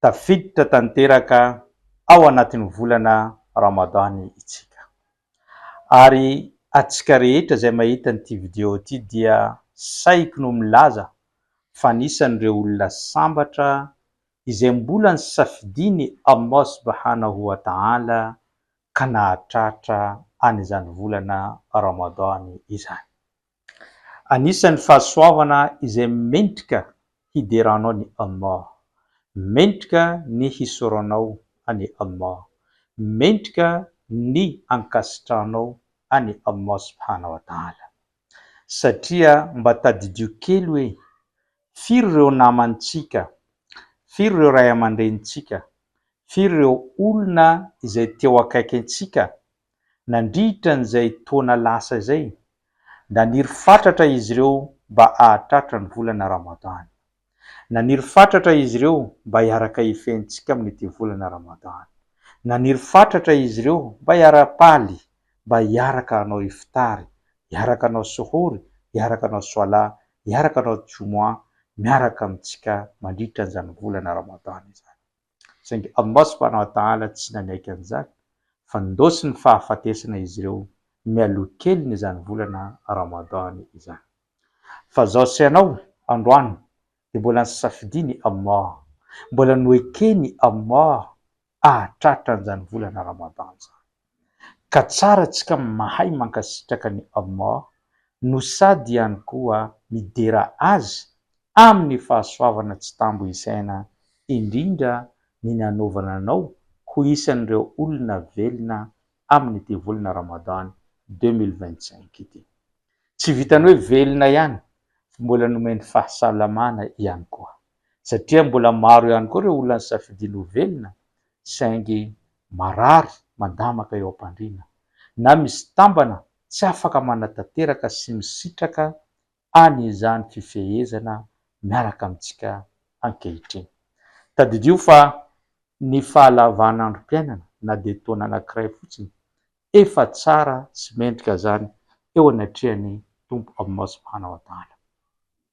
tafiditra tanteraka ao anatin'ny volana Ramadan itsika. Ary atsika rehetra izay mahita an'ity video ity dia saiky no milaza fa anisan'ireo olona sambatra izay mbola nisafidian'i Allah Subhanahu wa Ta'ala ka nahatratra an'izany volana Ramadan izany. Anisan'ny fahasoavana izay mendrika hideranao ny Allah. Mendrika ny hisoronao an'i Allah. Mendrika ny ankasitrahanao an'i Allah Subhana wa Ta'ala. Satria mba tadidio kely hoe, firy ireo namantsika, firy ireo ray aman-drenintsika, firy ireo olona izay teo akaikintsika Nandritra an'izay taona lasa izay, naniry fatratra izy ireo mba hahatratra ny volana Ramadany. Naniry fatratra izy ireo mba hiaraka hifehy ny tsiky amin'ity volana Ramadany. Naniry fatratra izy ireo mba hiara-paly, mba hiaraka hanao iftary, hiaraka hanao suhour, hiaraka hanao swala, hiaraka hanao Jumu'ah miaraka amintsika mandritra an'izany volana Ramadany izany. saingy Allah subhanahu wa ta'ala tsy nanaiky an'izany fa nindosy ny fahafatesana izy ireo mialoha keliny izany volana Ramadan izany. Fa zao sy anao androany dia mbola nisafidiany Allah, mbola noekeny Allah ahatratra an'izany volana Ramadan izany. Ka tsara tsika mahay mankasitraka ny Allah no sady ihany koa midera Azy amin'ny fahasoavana tsy tambo isaina indrindra ny nanaovana anao ho isan'ireo olona velona amin'ity volana Ramadan deux mille vingt-cinq ity. Tsy vitan'ny hoe velona ihany fa mbola nomeny fahasalamana ihany koa satria mbola maro ihany koa ireo olona nisafidiany ho velona saingy marary mandamaka eo am-pandriana na misy tambana tsy afaka manatanteraka sy misitraka any izany fifehezana miaraka amintsika ankehitriny. Tadidio fa ny fahalavan'androm-piainana na dia taona anankiray fotsiny, efa tsara sy mendrika izany eo anatrehan'ny Tompo Aminao Subhana wa Ta'ala.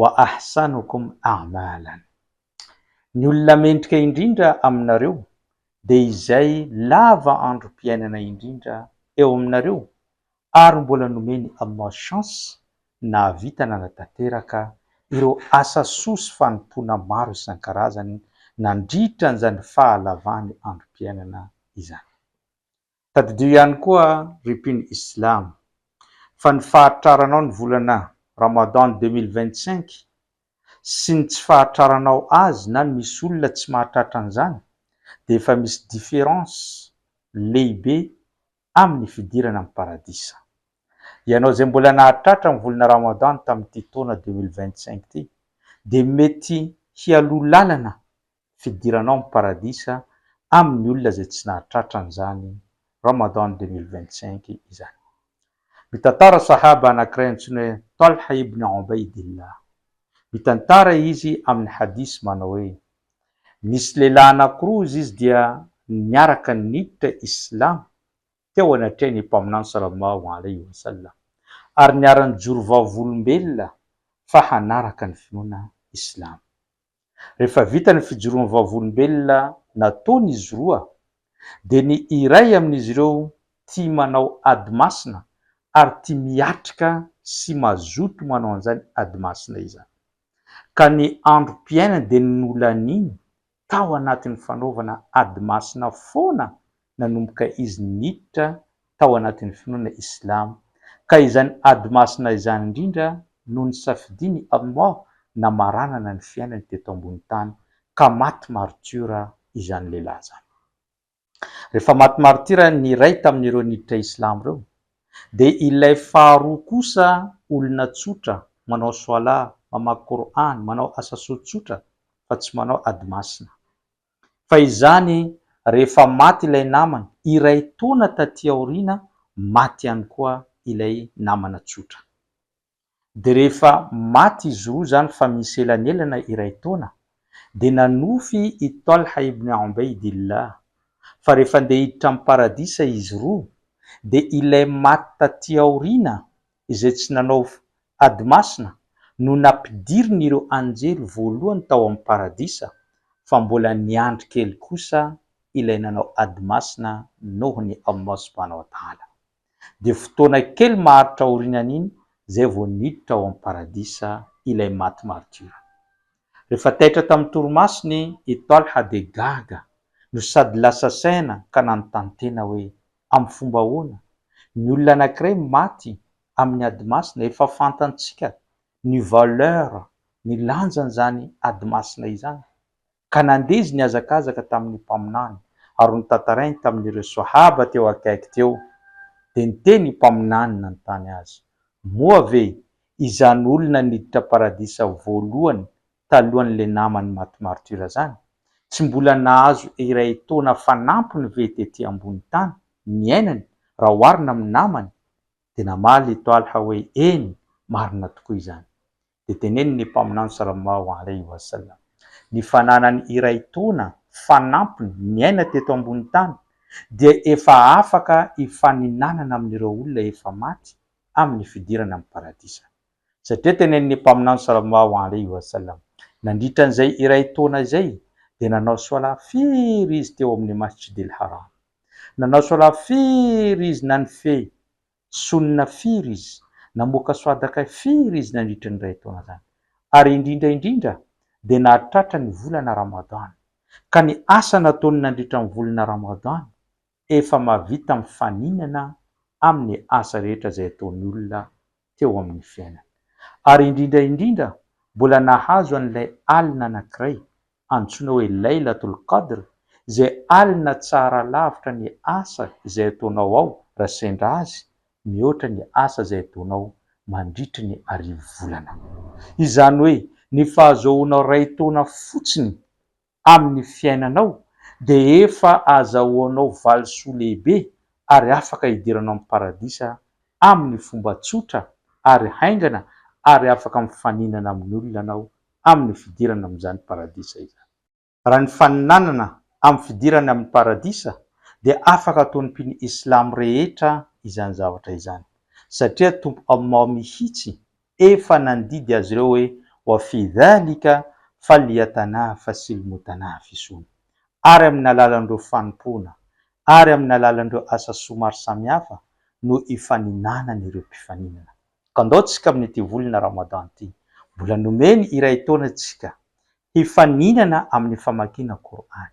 wa ahsanukum a'malan. Ny olona mendrika indrindra aminareo dia izay lava androm-piainana indrindra eo aminareo ary mbola nomen'i Allah chance nahavita nanatanteraka ireo asa soa sy fanompoana maro isan-karazany nandritra an'izany fahalavany androm-piainana izany. Tadidio ihany koa ry mpino islam fa ny fahatraranao ny volana Ramadan deux mille vingt cinq sy ny tsy fahatraranao azy na misy olona tsy mahatratra an'izany dia efa misy différence lehibe amin'ny fidirana amin'ny paradisa. Ianao izay mbola nahatratra ny volana Ramadan tamin'ity taona deux mille vingt cinq ity dia mety hialoha lalana ny fidiranao amin'ny paradisa amin'ny olona izay tsy nahatratra an'izany Ramadan deux mille vingt cinq izany. Mitantara Sahaba anankiray antsoina hoe Talha ibn Obaydillah. Mitantara izy amin'ny hadith manao hoe, Nisy lehilahy anankiroa izy izy dia niaraka niditra Islamo teo anatrehan'ny Mpaminany sallallahu alaihi wa sallam ary niara-nijoro vavolombelona fa hanaraka ny finoana Islamo. Rehefa vita ny fijoroan'ny vavolombelona nataon'izy roa, dia ny iray amin'izy ireo tia manao ady masina ary tia miatrika sy mazoto manao an'izany ady masina izany. Ka ny androm-piainany dia nolaniany tao anatin'ny fanaovana ady masina foana nanomboka izy niditra tao anatin'ny finoana Islamo, ka izany ady masina izany indrindra no nisafidian'i Allah namaranana ny fiainany teto ambony tany, ka maty martiora izany lehilahy izany. Rehefa maty martira ny iray tamin'ireo niditra Islamo ireo, dia ilay faharoa kosa olona tsotra, manao Swalah, mamaky Qur'an, manao asa soa tsotra fa tsy manao ady masina. Fa izany rehefa maty ilay namana, iray taona taty aoriana maty ihany koa ilay namana tsotra. Dia rehefa maty izy roa izany fa misy elanelana iray taona, dia nanofy i Talha ibn Ubaydillah fa rehefa handeha hiditra amin'ny Paradisa izy roa, dia ilay maty taty aoriana izay tsy nanao ady masina no nampidirin'ireo anjely voalohany tao amin'ny Paradisa, fa mbola niandry kely kosa ilay nanao ady masina nohon'i Allah subhanahu wa ta'ala. Dia fotoana kely maharitra aorianan'iny izay vao niditra ao amin'ny Paradisa ilay maty martiora. Rehefa taitra tamin'ny torimasony i Talha dia gaga no sady lasa saina ka nanontany tena hoe, Amin'ny fomba ahoana? Ny olona anankiray maty amin'ny ady masina, efa fantantsika ny valeur, ny lanjan'izany ady masina izany. Ka nandeha izy nihazakazaka tamin'ny Mpaminany ary notantarainy tamin'ireo Swahaba teo akaiky teo. Dia niteny ny Mpaminany nanontany azy, Moa ve izany olona niditra paradisa voalohany talohan'ilay namany maty martyr zany, tsy mbola nahazo iray taona fanampiny ve tety ambony tany niainany raha oharina amin'ny namany? Dia namaly i Talha hoe, Eny, marina tokoa izany. Dia tenenin'ny Mpaminany sallallahu alaihi wa sallam, Ny fananany iray taona fanampiny niaina teto ambony tany dia efa afaka hifaninanana amin'ireo olona efa maty amin'ny fidirana amin'ny Paradisa. Satria tenenin'ny Mpaminany Salallahu alaihi wa sallam, Nandritra an'izay iray taona izay, dia nanao Swalah firy izy teo amin'ny Masjidil Haram? Nanao Swalah firy izy na nifehy Sunnah firy izy? Namoaka Swadaka firy izy nandritra ny iray taona izany? Ary indrindra indrindra dia nahatratra ny volana Ramadan. Ka ny asa nataony nandritra ny volana Ramadan efa mahavita mifaninana amin'ny asa rehetra izay ataon'ny olona teo amin'ny fiainany. Ary indrindra indrindra, mbola nahazo an'ilay alina anankiray, antsoina hoe Laylatul Qadr, izay alina tsara lavitra ny asa izay ataonao ao raha sendra azy, mihoatra ny asa izay ataonao mandritry ny arivo volana. Izany hoe, ny fahazoanao iray taona fotsiny amin'ny fiainanao dia efa azahoanao valisoa lehibe ary afaka hidiranao amin'ny Paradisa amin'ny fomba tsotra ary haingana ary afaka mifaninana amin'ny olona anao amin'ny fidirana amin'izany Paradisa izany. Raha ny faninanana amin'ny fidirana amin'ny Paradisa dia afaka ataon'ny mpino Islam rehetra izany zavatra izany satria Tompo Allah mihitsy Efa nandidy azy ireo hoe, Wa fi dhalika falyatanafasi lmutanafisun. Ary amin' ny alalan' ireo fanompoana ary amin' ny alalan' ireo asa soa maro samihafa no ifaninanan' ireo mpifaninana. Ka ndao tsika amin' ity volana Ramadan ity, mbola nomeny iray taona tsika, hifaninana amin' ny famakiana Kor'any.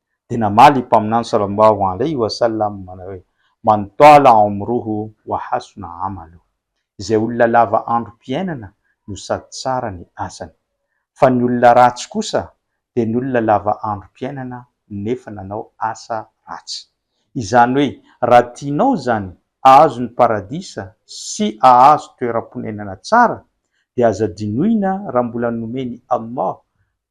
Dia namaly i Mpaminany Sallallahu Alaihi Wa Sallam hoe, Man twala omruhu wa hasuna amaluh, izay olona lava androm-piainana no sady tsara ny asany. Fa ny olona ratsy kosa dia ny olona lava androm-piainana nefa nanao asa ratsy. Izany hoe, raha tianao izany ahazo ny Paradisa sy ahazo toeram-ponenana tsara, dia aza dinoina raha mbola nomen'i Allah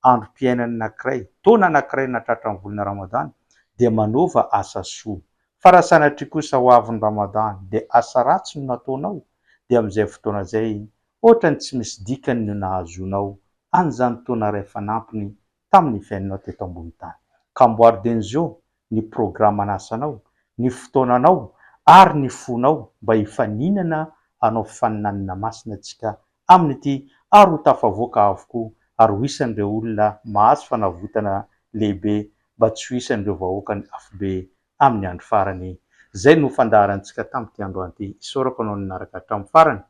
androm-piainany anankiray, taona anankiray na tratran'ny volana Ramadan, dia manaova asa soa. Fa raha sanatria kosa ho avy ny Ramadan dia asa ratsy no nataonao, dia amin'izay fotoana izay hoatran'ny tsy misy dikany no nahazoanao an'izany taona iray fanampiny tamin'ny fiainanao teto ambony tany. Ka amboary Denzo, ny programan'asanao, ny fotoananao ary ny fonao mba hifaninana hanao faninanana masina antsika amin'ity ary ho tafavoaka avokoa ary ho isan'ireo olona mahazo fanavotana lehibe mba tsy ho isan'ireo vahoakan'ny afobe amin'ny andro farany. Izay no fandaharantsika tamin'ity androany ity. Isaorako anao nanaraka hatramin'ny farany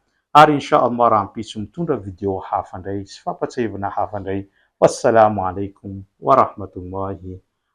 ary Insha Allah rahampitso mitondra video hafa indray sy fampatsiahivana hafa indray. Wassalaamu Alaikum Warahmatullahi